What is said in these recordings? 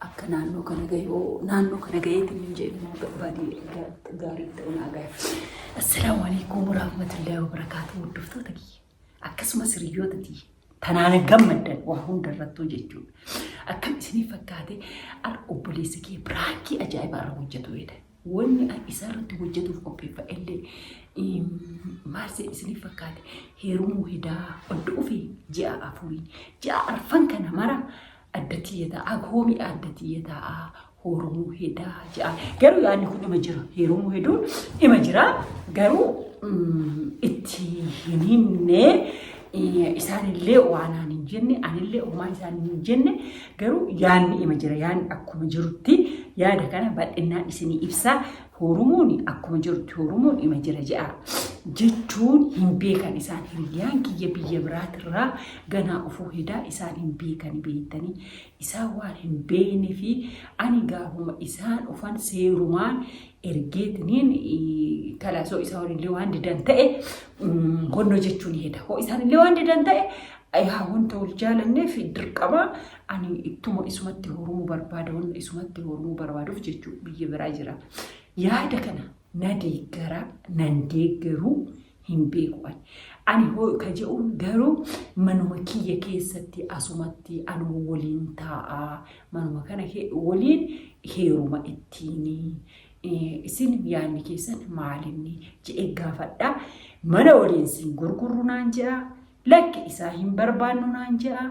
akka naannoo kana gahe hoo naannoo kana gaheetiin hin jedhu moo barbaadee ga- gaarii ta'u naa gahe. Assalaamu alaikum warahmatullahi wabarakaatu hordoftoota kiyya akkasumas hiriyoota kiyya tanaan gammaddan waa hunda irrattuu jechuudha. Akkam isinii fakkaate ar obboleessi kee biraankii ajaa'ibaa irra hojjetu jedha. Wanni ar isaa irratti hojjetuuf qopheeffa illee em, maal se isinii fakkaate heerumuu hedaa odda ofii ji'a afurii ji'a arfan kana mara Adda tiyya taa agoo mi'a adda tiyya taa hoorumuu hedaa ja'a. Garuu yaadni kun ima jira. Heerumuu heduun ima jira. Garuu mm, itti hin himne eh, isaanillee waanaan hin jenne anillee homaa isaan hin jenne garuu yaadni ima jira. Yaadni akkuma jirutti yaada kana bal'innaan isinii ibsaa. Hoorumuun akkuma jirtu hoorumuun ima jira jedha. Jechuun hin beekan isaan hiriyyaan kiyya biyya biraatirraa ganaa ofuu hedaa isaan hin beekani beektanii isaan waan hin beekne fi ani gaafuma isaan dhufan seerumaan ergeetiniin kalaasoo isaa walillee waan didan ta'e honnoo jechuun heda. Hoo isaan illee waan didan ta'e yaa wanta wal jaalanneef dirqama Ani ittuma isumatti horumuu barbaada wanna isumatti horumuu barbaaduuf jechuu biyya biraa jira. Yaada kana na deeggara nan deeggaru hin beeku ani. Ani hoo ka je'uun garuu manuma kiyya keessatti asumatti anuma waliin taa'a manuma kana waliin heeruma ittiini. Isin yaadni keessan maalinni je'ee gaafadha. Mana waliin siin gurgurru naan je'a. Lakki isaa hin barbaannu naan je'a.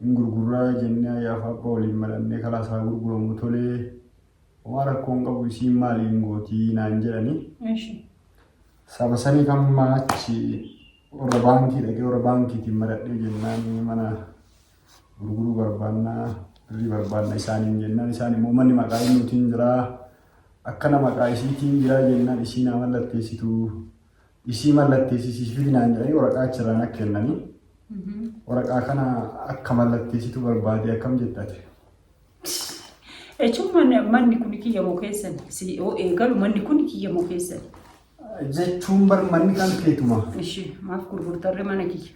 hin gurgurraa jennee ayyaaf abba waliin marannee kalaas haa gurguramu tolee homaa rakkoo hin qabu isiin maali hin gootii naan jedhani Eshi. saba sanii kan maachi warra baankii dhaqee warra baankiitiin maradhee jennaan mana gurguruu barbaannaa birrii barbaanna isaaniin jennaan isaan immoo manni maqaa innuutiin jiraa akkana maqaa isiitiin jiraa jennaan isiin haa mallatteessitu Isii mallatteessisiis fidi naan jedhanii waraqaa achirraa na kennanii waraqaa kana akka mallatteessitu barbaade akkam jetta ati? Jechuun manni, manni kun kiyya moo keessan? Si yoo eegalu manni kun kiyya moo keessan? Jechuun bar manni kan keetuma. Ishi maaf gurgurtarre mana kiyya?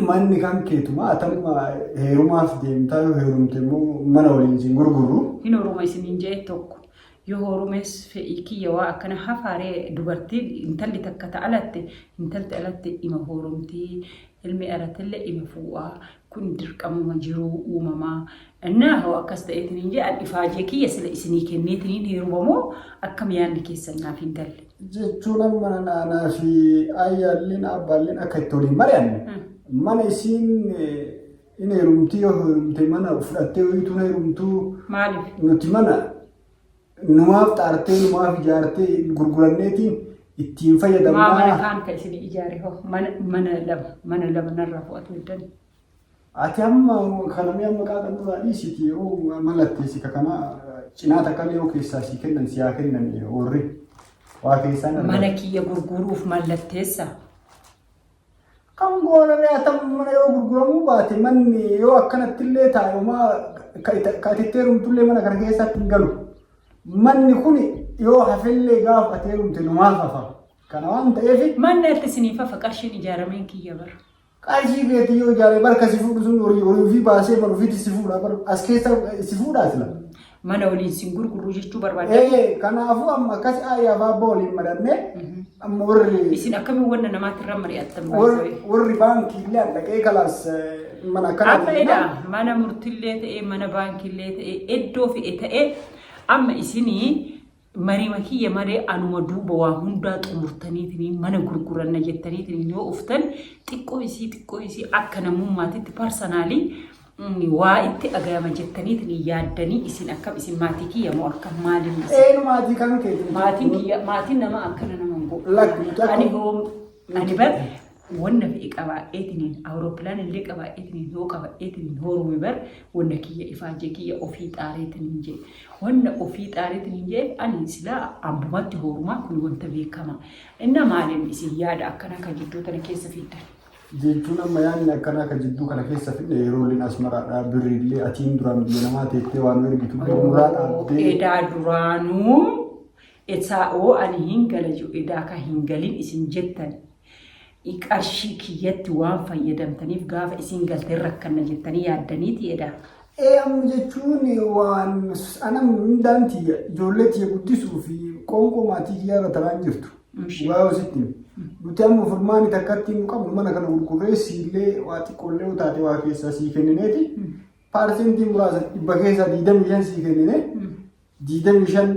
Manni kan keetuma atamma heerumaaf deemtaa yoo heerumte immoo mana waliin siin gurgurru. Hin horuma isiniin jee tokko. Yoo horumees fedhii kiyya waa akkana hafaaree dubartiin intalli takka ta alatte intalti alatte ima horumtii ilmi aratille ima fuu'aa kun dirqamuma jiruu uumamaa Innaa hoo akkas ta'eetiniin jee an ifaajee kiyya sila isinii kenneetiniin heeruma moo akkam yaadni keessan naaf hin galle. Jechuun amma naanaa fi ayyaalliin abbaalliin akka itti waliin mari'anne mana isiin in heerumtii yoo heerumte mana fudhattee hojiitu heerumtuu Maaliif? nuti mana numaaf xaartee numaaf ijaartee gurguranneetiin ittiin Maa mana fayyadamnaa. kaan ka isinii ijaare hoo mana mana lama mana lama narraa fo'atu hin dandeenye. Ati amma kana mi'a maqaa kan duraa dhiisiti yeroo mallatteessi ka kana cinaa takka illee yoo keessaa sii kennan si haa kennan warri waa keessaa dhabdan. Mana kiyya gurguruuf mallatteessa. Kan goonaree haa ta'u mana yoo gurguramuu baate manni yoo akkanatti illee taa'umaa ka ati itti heerumtullee mana kana keessatti hin galu. Manni kun yoo hafellee gaafa ati heerumte numaaf hafa. Kana waan ta'eef Manni atti isiniif hafa qarshiin ijaarameen kiyya bara. Qarshii keetii yoo ijaaree bar kasi fuudhu sun horii horii ofii baasee bar ofiitti si fuudha bar as keessa si fuudhaa sila. Mana waliin sin gurgurru jechuu barbaadda. Ee kanaafuu amma akkasi ayyaa baabba waliin maranne amma warri Isin akkamiin wanna namaatti irra mari'attan warri barbaadda. warri baankii illee dhaqee kalaas mana akkana Amma edaa mana murtillee ta'ee mana baankiillee ta'ee iddoo fe'e ta'ee amma isinii Marima kiyya malee anuma duuba waa hundaa xumurtaniitiniin mana gurguranna jettaniitiniin yoo uftan xiqqoo isii xiqqoo isii akka namummaatitti parsanaalii waa itti dhagayama jettaniitiniin yaaddanii isin akkam isin maatii kiyya moo akkam maaliin isin Eenu maatii kan kee. maatiin kiyya maatiin nama akkana nama hin Lakki, godhu. lakki. Ani hoo ani bar wanna fe'e qabaadheetiniin awurooppilaan illee qabaadheetiniin hoo qabaadheetiniin hoo rume bar wanna kiyya ifaajee kiyya ofii xaareetiniin jee wanna ofii xaareetiniin jee ani silaa abbumatti hoorumaa kun wanta beekama inna maaliin isin yaada akkana ka jidduu tana keessa fiddan. jechuun amma yaanni akkanaa ka jidduu kana keessa fidne yeroo illee asmaraadhaa birri illee atiin duraan biyya namaa teettee waan ergitu illee muraa dhaabdee edaa duraanuu esaa oo ani hin gala jiru edaa ka hin galin isin jettan i qarshii kiyyatti waan fayyadamtaniif gaafa isiin galte hin rakkanna jettanii yaaddaniiti edaa. Ee amma jechuun waan ana hundaan tiyya ijoollee tiyya guddisuu fi qoonqoo maatii kiyyaa irra taraan jirtu. Ishee. Dhugaa yoo sitti hime. Nuti amma furmaani takkatti hin qabnu mana kana gurgurree siillee waa xiqqoollee yoo taate waa keessaa sii kennineeti. Paarsentii muraasa dhibba keessaa digdamii shan sii kennine. 25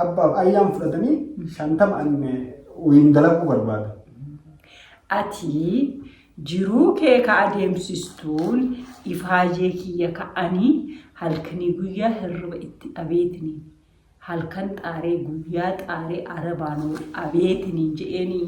abbaaf ayyaan fudhatanii 50 an waliin dalaguu barbaada. Ati jiruu kee ka adeemsistuun ifaajee kiyya ka'anii halkanii guyyaa hirriba itti dhabeetini. Halkan xaaree guyyaa xaaree arabaan wal dhabeetini je'eenii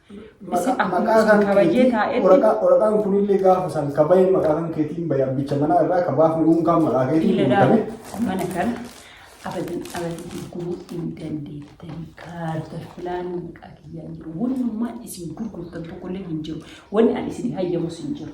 Isin Maqaa- akkuma maqaa isin kan qabayyee keetii- taa'etti- waraqaa- Waraqaan kunillee gaafa san ka bahe maqaa kan keetiin bahe abbicha manaa irraa ka baafne uunkaan maqaa keetiin Dhiira guutame. daamu mana kana abadan abadan gurguruu hin dandeettanii kaarta filaanii maqaa kiyyaan jiru. Wannummaan isin gurgurtan tokkollee hin jiru. Wanni ani isin hayyamus hin jiru.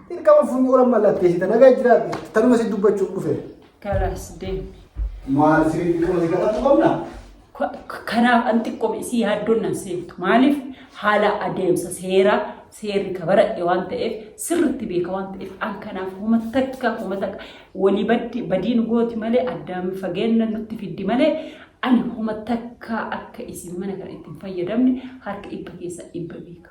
Dirqama funyoo lama mallatteessita nagaa jiraadhu tanuma si dubbachuuf dhufe. Kalaas deemi. Maal sirrii dirqama si kadhatu qabna? Kanaaf an xiqqoom isii yaaddoon nan seeftu. Maaliif haala adeemsa seeraa seerri ka baradhe waan ta'eef sirriitti beeka waan ta'eef an kanaaf homa takka homa takka walii baddi badiin gooti malee addaan fageenya nutti fiddi malee ani homa takka akka isin mana kana ittiin fayyadamne harka dhibba keessa dhibba beeka.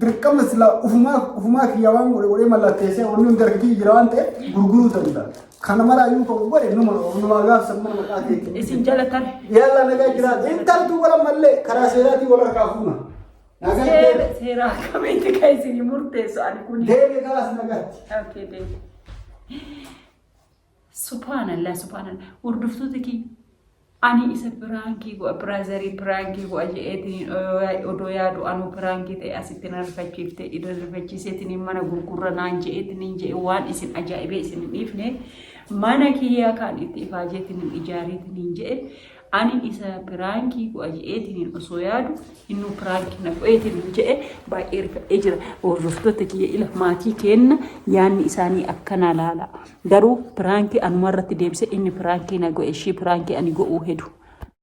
Dirqama silaa ufumaa ufumaa kiyya waan godhe godhee mallatteessee wanni hundi harka kiyya jira waan ta'eef gurguruu danda'a. Kana maraa yoo kan godhe numa numa gaafsa mana maqaa keetiin. Isin jalatan. Yalla nagaa jiraata. Intaltu wala mallee karaa seeraatiin wal harkaa fuuna. Nagaa Seera jiraata. seera akkamitti kan isin murteessu ani kun. Deemee kalaas nagaatti. Okay, deemi. Subhaanallah subhaanallah hordoftoota kiyya ani isa piraankii go'a piraazarii piraankii go'a je'eetiin odoo yaadu anuu piraankii ta'e asitti na rifachiifte idan rifachiiseetiin mana gurgurra naan je'eetiin je'e waan isin ajaa'ibee isin hin dhiifne mana kiyyaa kaan itti ifaajeetiin ijaariitiin je'e Anin isa piraankii go'a je'eetiin osoo yaadu innuu piraanki na go'eetiin je'e baay'ee rifadhee jira. Hordoftoota kiyya ila maatii keenna yaanni isaanii akkanaa laala. Garuu piraankii anuma irratti deebise inni piraankii na go'e ishii piraankii ani go'uu hedu.